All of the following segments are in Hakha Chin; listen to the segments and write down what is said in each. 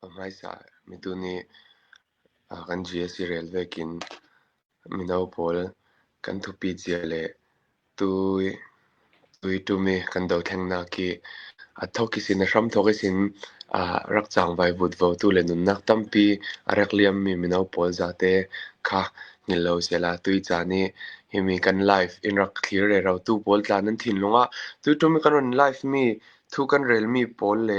A hmaisa mitu nih kan GSC rel vekin mino pawl kan thupi cia le tuitum i kan dothengnak khi a thok i sin, a hram thok i sin rak cang vai vut vo tu le nunnak tampi a rak liammi mino pawl zate kha hngilh lo sehla tucaan i himi kan live in rak thlir re ro tu pawl tla nan thinlung ah tuitum i kan run live mi thu kan relmi pawl le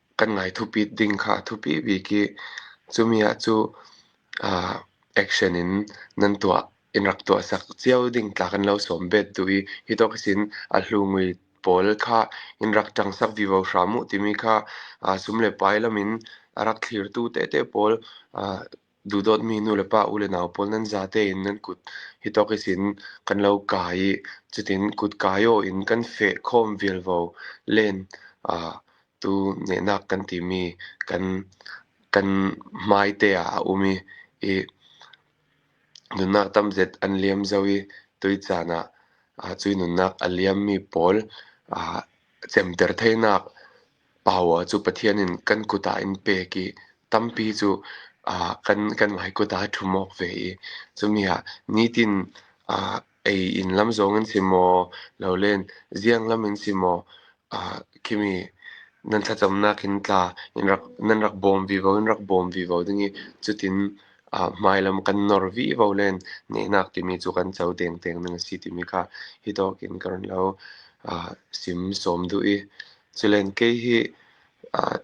kan ngai thupit ding kha a thupi bik i cumi ah cu action in nan tuah in rak tuahsak cio ding tla kan lo sawm bet duh i hi tok hin a hlungui pawl kha in rak ṭangsak vivo hram uh timi kha sum le pai lam in a rak thlirtu tete pawl Duhdawtmi nulepa u le nau pawl nan zate in nan kut hi tawkis in kan lo kai i cutin kut kai aw in kan feh khawm vialvo len tu nehnak kan timi kan kan hmaite ah a um i i nunnak tamzet an liam zau i tucaan ah cu nunnak a liammi pawl cemter thainak Paua cu Pathian in kan kut ah in pek i tampi cu aa kan kan mah i kut ah ṭhum awk ve i cumi ah nitin aa ei in lam zong in si maw, lole ziang lam in si maw, aa khimi nan thlacamnak in tla in rak nan rak bawm vivo in rak bawm vivo ding i cutin aa hmailam kan nawr vivo len nehnak timi cu kan co dengdeng ding a si timi kha hi tawk in ka run lo aa sim sawm duh i Culain kei hi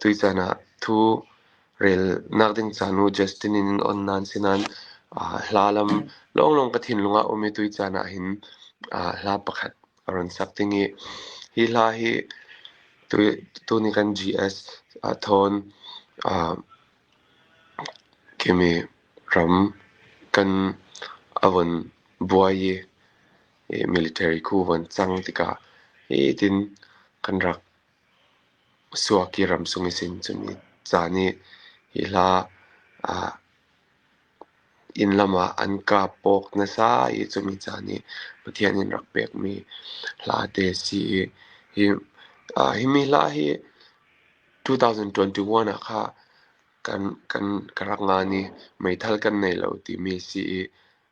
tucaan ah thu relnak ding ca nu Justin in an on nain sinain hla lam lawnglawng ka thinlung ah a um i tucaan ah hin hla pakhat a run sak ding i hi hla hi tuni kan GS Thawn Kimi ram kan a von buai i Military khu van cang tikah hitin kan rak suak i ramsung i sin cun caan i hi hla inn lam ah an kap awk nasa i cumi caan i Pathian in rak pekmi hla te a si i himi hla hi 2021 ah kha kan rak ngan i meithal kan nei lo timi a si i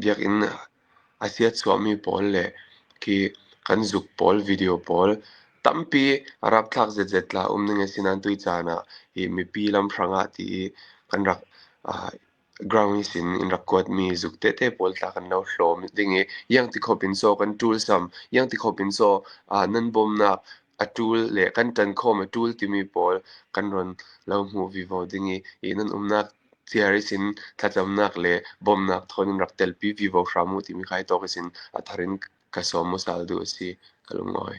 Biakinn a siachuahmi pawl le khi kan zuk pawl video pawl tampi rapthlak zetzet tla um ding a si nain tui caan ah hi mipi lamhrang ah ti i kan rak ground i sin in rak kuatmi zuk tete pawl tla kan lo hlawm ding i iang ti khawp in caw kan ṭul sam, iang ti khawp in caw nan bawmnak a ṭul le kan ṭan khawm a ṭul timi pawl kan ron lo hmuh vivo ding i hi nan umnak Theories in thlacamnak le bawmhnak thawng in rak telpi vivo hram u timi kha hi tok in a thar in ka sawm u sal duh a si, ka lungawi.